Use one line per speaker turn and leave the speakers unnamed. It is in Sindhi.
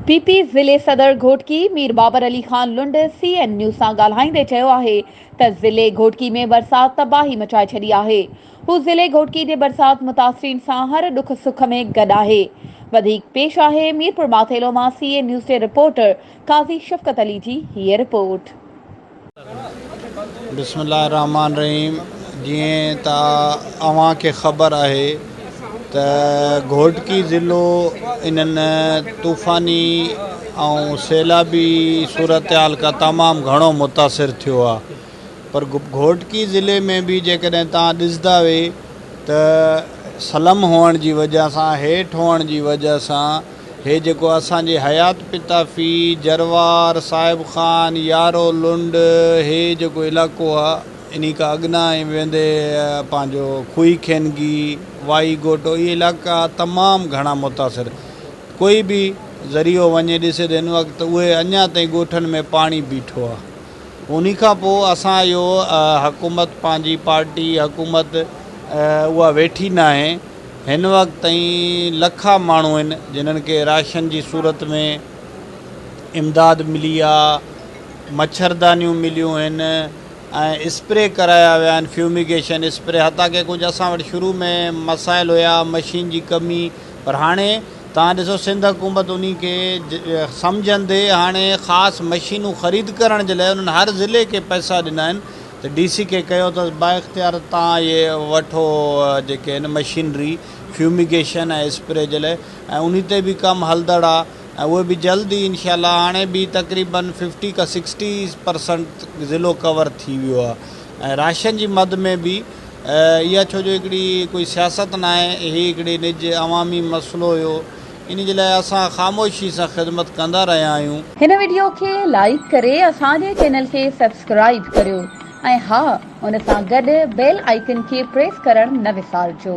پي پي ضلعي صدر Ghotki Mir Babar Ali Khan Lund C N news سان ڳالهائيندي چيو آهي ته ضلعي گهوٽڪي ۾ برسات تباهي مچائي ڇڏي آهي، هو ضلعي گهوٽڪي جي برسات متاثرين سان هر ڏک سک ۾ گڏ آهي. وڌيڪ پيش آهي ميرپورماٿيلو مان سي اين نيوز جي رپورٽر قاضي شفقت علي جي هيء رپورٽ. بسم
الله الرحمٰن الرحيم جيئن ته اوهان کي خبر آهي ته گهوٽڪي ضلعو انهن طوفاني ۽ سيلابي صورتحال کان تمام گهڻو متاثر ٿيو آهي پر گهوٽڪي ضلعي ۾ به جيڪڏهن توهان ڏسندا وي ته سلم هئڻ جي وجه سان هيٺ هئڻ جي وجه سان هي جيڪو اسان جي حيات پتافي، جروار، صاحب خان، يارو لنڊ، هي جيڪو علائقو آ، انهي کان اڳنا ۽ ويندي پنهنجو کوهي کينگي، وائي گهوٽو، اهي علائقا تمام گهڻا متاثر. ڪوئي به ذريعو وڃي ڏسي ته هن وقت اهي اڃا تائين ڳوٺن ۾ پاڻي بيٺو آ. انهي کان پوء اسان اهو حڪومت پنهنجي پارٽي حڪومت اها ويٺي ناهي هن وقت تائين لکا ماڻهو آهن جنهن کي راشن جي صورت ۾ امداد ملي آ مڇردانيون مليون آهن ۽ اسپري ڪرايا ويا آهن فيوميگيشن اسپري حتيٰ ڪي ڪجهه اسان وٽ شروع ۾ مسائل هيا مشين جي ڪمي پر هاڻي توهان ڏسو سنڌ حڪومت انهي کي سمجهندي هاڻي خاص مشينون خريد ڪرڻ جي لاء انهن هر ضلعي کي پئسا ڏنا آهن ته ڊي سي کي ڪهيو اٿس بااختيار توهان اهي وٺو جيڪي آهن مشينري فيوميگيشن ۽ اسپري جي لاء ۽ انهي تي به ڪم هلدڙ آهي ۽ اهي به جلد ئي انشاء الله هاڻي به تقريبن ففٽي کان سڪسٽي پرسنٽ ضلعو ڪور ٿي ويو آهي ۽ راشن جي مد ۾ به اها ڇو جو هڪڙي ڪوئي سياست ناهي، هي هڪڙي نج عوامي مسئلو هيو، ان جي لاء اسان خاموشي سان خدمت ڪندا رهيا آهيون. هن وڊيو کي
لائيڪ ڪري اسان جي چينل کي سبسڪرائيب ڪريو ۽ ها ان سان گڏ بيل آئيڪن کي پريس ڪرڻ نه وسارجو.